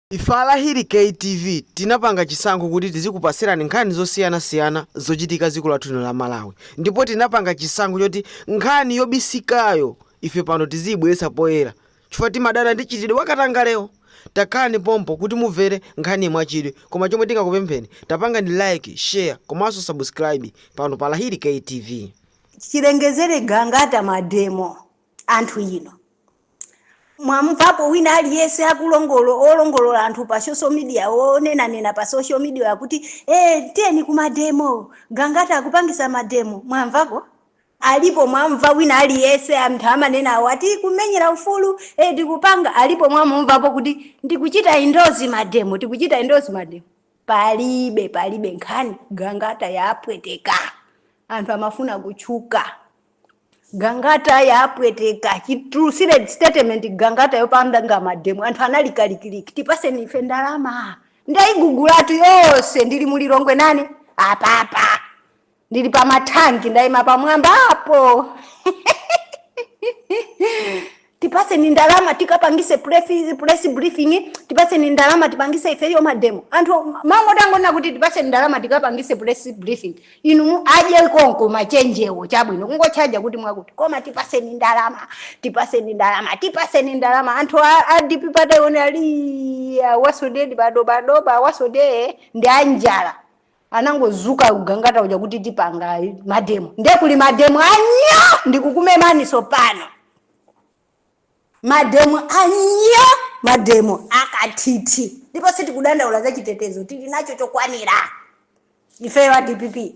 Ife a Lahiri Kay TV tinapanga chisankho kuti tizikupatsirani nkhani zosiyana siyana zochitika dziko lathu lino la Malawi ndipo tinapanga chisankho choti nkhani yobisikayo ife pano tiziyibweretsa poyera chifukwa timadana ndi mchitidwe wa katangalewo takhalani pompo kuti mumvere nkhaniyi mwachidwi koma chomwe tingakupempheni tapangani like, share komanso subscribe pano pa Lahiri Kay TV. Chilengezere Gangata Mademo anthu inu. mwamvapo wina aliyense akulongolola olongolola anthu pa social media onenanena pa social media akuti eh tiyeni ku mademo gangata akupangisa mademo mwamvapo alipo mwamva wina aliyense anthu amanena aja ati kumenyera ufulu eh tikupanga alipo mwamumvapo kuti ndikuchita indozi mademo tikuchita indozi mademo palibe palibe nkhani gangata yapweteka anthu amafuna kutchuka Gangata yapweteka chitulutsire statement Gangata yopangana mademo anthu anali kalikiliki tipatseni ife ndalama ndaigugulatu yonse ndili mu Lilongwe nane apapa ndili pa mathanki ndaima pamwambapo Tipatseni ndalama tikapangise press briefing, tipatseni ndalama tipangise ifeyo ma demo. Anthu amangoti angonena kuti tipatseni ndalama tikapangise press briefing, inu mu adye konko ma chenjewo chabwino kungotchaja kuti mwakuti koma tipatseni ndalama, tipatseni ndalama, tipatseni ndalama anthu a dpp ataona ali awasodedi badobado awasodee ndi anjala anangodzuka Gangata uja kuti tipanga mademo nde kuli mademo anyo ndikukumemaninso pano mademo anyo mademo akathithi ndipo sitikudandaula za chitetezo tili nacho chokwanira ifeyo a dpp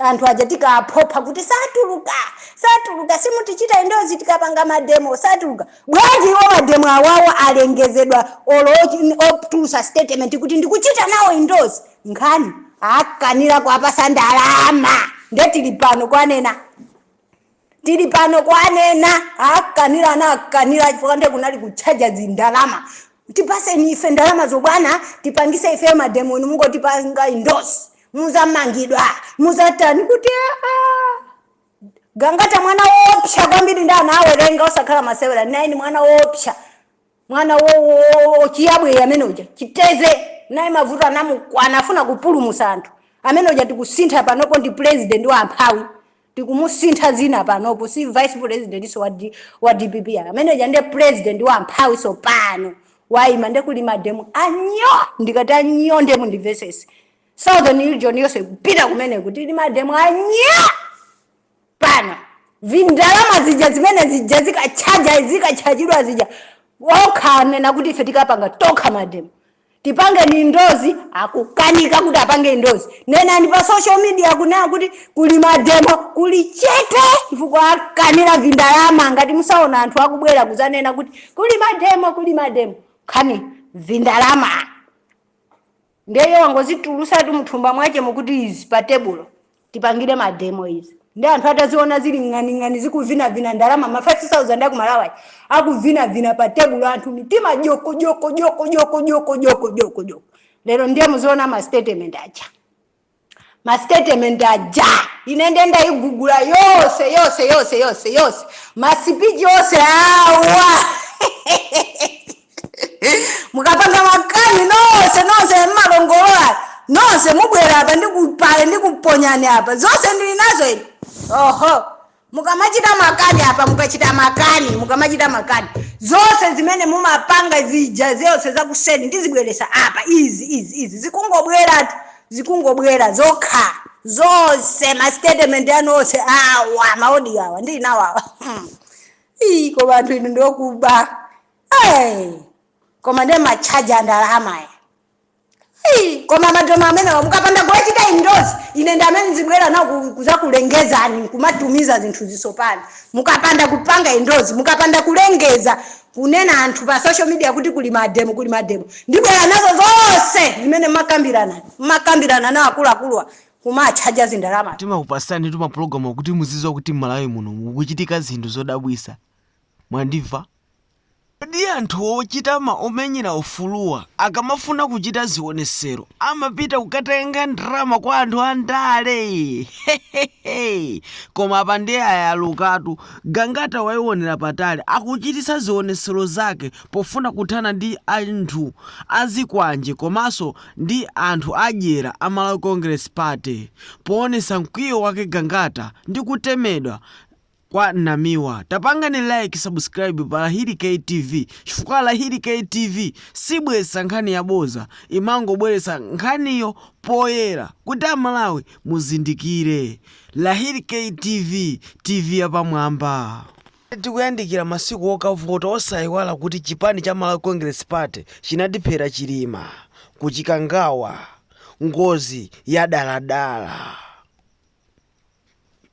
anthu aja tikawaphopha kuti satuluka satuluka simutichita indozi tikapanga mademo satuluka bwanji iwo mademo awawo alengezedwa olo ochi- otulutsa statement kuti ndikuchita nawo indozi nkhani akanira kuwapatsa ndalama nde tili pano kwanena tili pano kwanena akanira ana akanira chifukwa nde kunali kutchaja zindalama tipatseni ife ndalama zobwana tipangise ife mademo inu mungotipanga indozi mudzamangidwa mudzatani kuti aa gangata mwana woopsa kwambiri nde anawerenga osakhala masewera naini mwana woopsa mwana wo wo wo chiyabwe amene uja chiteze naye mavuto anamukwana afuna kupulumutsa anthu amene uja tikusintha panopo ndi president wa amphawi tikumusintha dzina panopo si vice presidentnso wa, D, wa dpp ayi. amene uja nde president wa amphawinso pano waima nde kuli mademo anyo ndikati anyo nde mundimvetsetse southern region yonse kupita kumene kuti ndi mademo anyo pano vindalama zija zimene zija zikatchajidwa zija okha anena kuti ife tikapanga tokha mademo tipange ni ndozi akukanika kuti apange ndozi nenani pa social media kunena kuti kuli mademo kuli chete chifukwa akanira vindalama ngati musaona anthu akubwera kuzanena kuti kuli mademo nkhani vindalama Ndiye iye wangozitulusatu muthumba mwachemo kuti izi pa tebulo tipangire ma demo izi. Ndiye anthu ataziona zili ng'aning'ani zikuvinavina ndalama ma 5000 aku Malawi aja akuvinavina pa tebulo anthu mitima joko joko joko joko joko joko joko joko lero ndiye muziona ma statement aja. ma statement aja ine nde ndayigugula yose yose yose yose yose masipichi yose awa mukapanga makani nonse nonse mmalongolola nonse mubwere apa ndikupale ndikuponyani apa zonse ndili nazo ine oho Mukamachita makani apa, mukachita makani, mukamachita makani, zonse zimene mumapanga zija, zonse zakuseni ndizibweretsa apa, izi, izi, izi, zikungobweratu, zikungobwera zokha, zonse ma statement anu onse awa, ma audio awa, ndili nawo awa. Hmm. Ii, koma anthu inu ndiokuba. Hey. Koma ndi ma tchaja andalama ya. Hey, koma mademo amenewa mukapanda kuwachita indozi ine ndi amene ndizibwera nawo ku- kuzakulengezani nkumatumiza zinthu zisopani mukapanda kupanga indozi mukapanda kulengeza kunena ngati pa social media kuti kuli mademo kuli mademo ndibwera nazo zonse zimene makambirana makambirana nawo akuluakuluwa kumatchaja zindalama timakupasani tu mapulogalamu kuti muzidziwa kuti m'malawi muno mukuchitika zinthu zodabwisa mwandimva Kodi anthu ochita ma omenyera ufuluwa akamafuna kuchita zionesero amapita kukatenga ndalama kwa anthu andale? Hehehe koma apa ndiye ayalukatu. Gangata waionera patali akuchititsa zionesero zake pofuna kuthana ndi anthu azikwanje komaso ndi anthu adyera a Malawi Congress Party. Poonesa mkwiyo wake Gangata ndi kutemedwa, kwa Namiwa. Tapangani like, subscribe pa Lahiri K TV chifukwa Lahiri K TV sibweretsa nkhani yaboza, imangobweretsa nkhaniyo poyera kuti Amalawi muzindikire. Lahiri K TV, TV yapamwamba. Tikuyandikira masiku okavota, osayiwala kuti chipani cha Malawi Congress Party chinatiphera Chilima ku Chikangawa ngozi yadaladala.